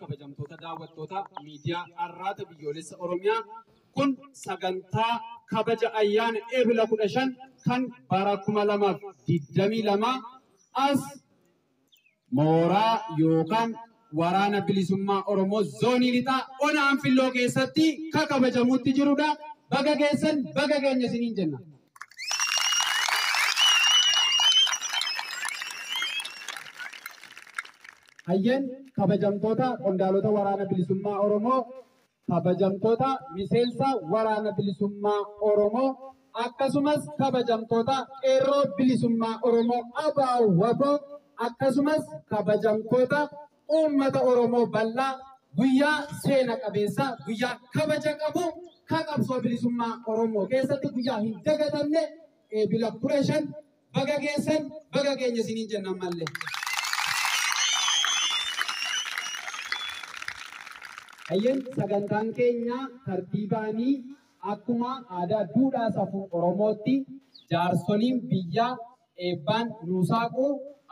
kabajamtoota daawwattoota miidiyaa Arraata Biyyoolessa Oromiyaa kun sagantaa kabaja ayyaana Eebila 15 kan bara 2022 as mooraa yookaan waraana bilisummaa Oromoo zoonii lixaa ona Anfilloo keessatti ka kabajamutti jirudha. Baga geessan baga keenya isiniin jenna. Hayyeen kabajamtoota qondaalota waraana bilisummaa Oromoo kabajamtoota miseensa waraana bilisummaa Oromoo akkasumas kabajamtoota qeerroo bilisummaa Oromoo abaa waboo akkasumas kabajamtoota uummata Oromoo bal'aa guyyaa seena qabeessa guyyaa kabaja qabu ka qabsoo bilisummaa Oromoo keessatti guyyaa hin dagatamne eebila kudha shan Baga geessan baga geenye isiniin jenna ammallee. Hayyeen sagantaan keenya tartiibaanii akkuma aadaa duudhaa safuu Oromootti jaarsoliin biyyaa eebbaan nuu saaqu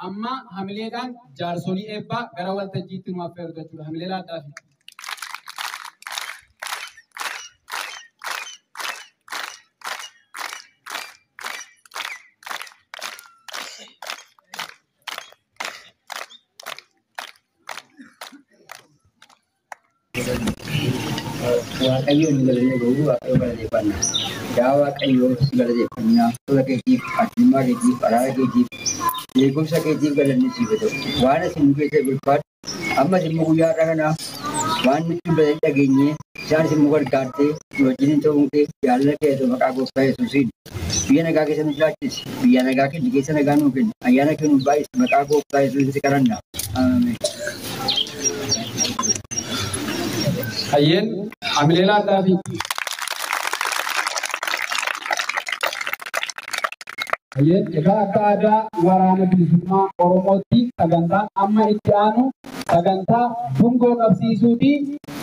amma hamileedhaan jaarsolii eebbaa gara waltajjiitti nu affeeru jechuudha. Hamilee laadhaafi. Waaqayyoon hin galanne garuu waaqayyo galateeffanna. Yaa Waaqayyo si galateeffanna. Tola keetiif, addummaa keetiif, araara keetiif, beekumsa keetiif galanni siif haa ta'u. Waan isin nu keessa bulfaadhu. Ammas immoo guyyaa har'a kana waan nutti dubbatan dhageenye isaanis immoo gargaartee nu wajjiniin ta'uun kee jaalala kee ta'u maqaa gooftaa Yesuusiin biyya nagaa keessa nu jiraachisi biyya nagaa kenni keessa nagaa nuu kenni ayyaana kee nu baay'isi maqaa gooftaa Yesuusiin si kadhanna. Ameen. Hayyeen hamilee laadhaa fi Hayyee, egaa akka aadaa Waraana Bilisummaa Oromootti sagantaan amma itti aanu sagantaa dungoo qabsiisuuti.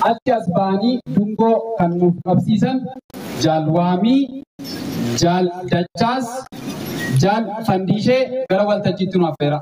Achi as ba'anii dungoo kan nuuf qabsiisan Jaal Waamii, Jaal Dachaas, Jaal Fandiishee gara waltajjiitti nu affeeraa.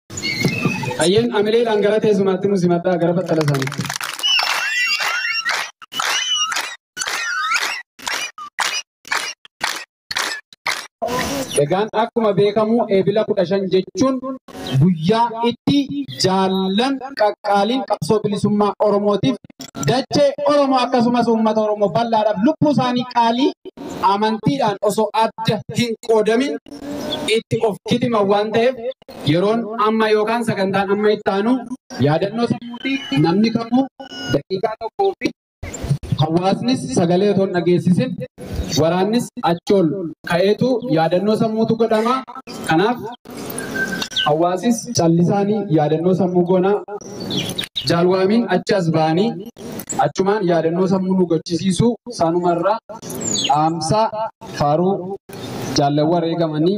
Hayyeen amileedhaan gara teessumaatti nu simadhaa gara battala isaaniitti. Egaan akkuma beekamu eebila kudha shan jechuun guyyaa itti jaallan qaqqaaliin qabsoo bilisummaa Oromootiif dachee Oromoo akkasumas uummata Oromoo bal'aadhaaf lubbuu isaanii qaalii amantiidhaan osoo adda hin qoodamin itti of kitiman waan ta'eef Yeroon amma yookaan sagantaan amma itti aanu yaadannoo sammuuti namni kamuu daqiiqaa tokkoo fi hawaasnis sagalee otoo hin dhageessisin waraannis achi ol ka'eetu yaadannoo sammuutu godhama. Kanaaf hawaasis callisaanii yaadannoo sammuu goonaa jaalwaamiin achi as ba'anii achumaan yaadannoo sammuu nu gochisiisuu saanumarraa dhaamsaa faaruu jaallawwan wareegamanii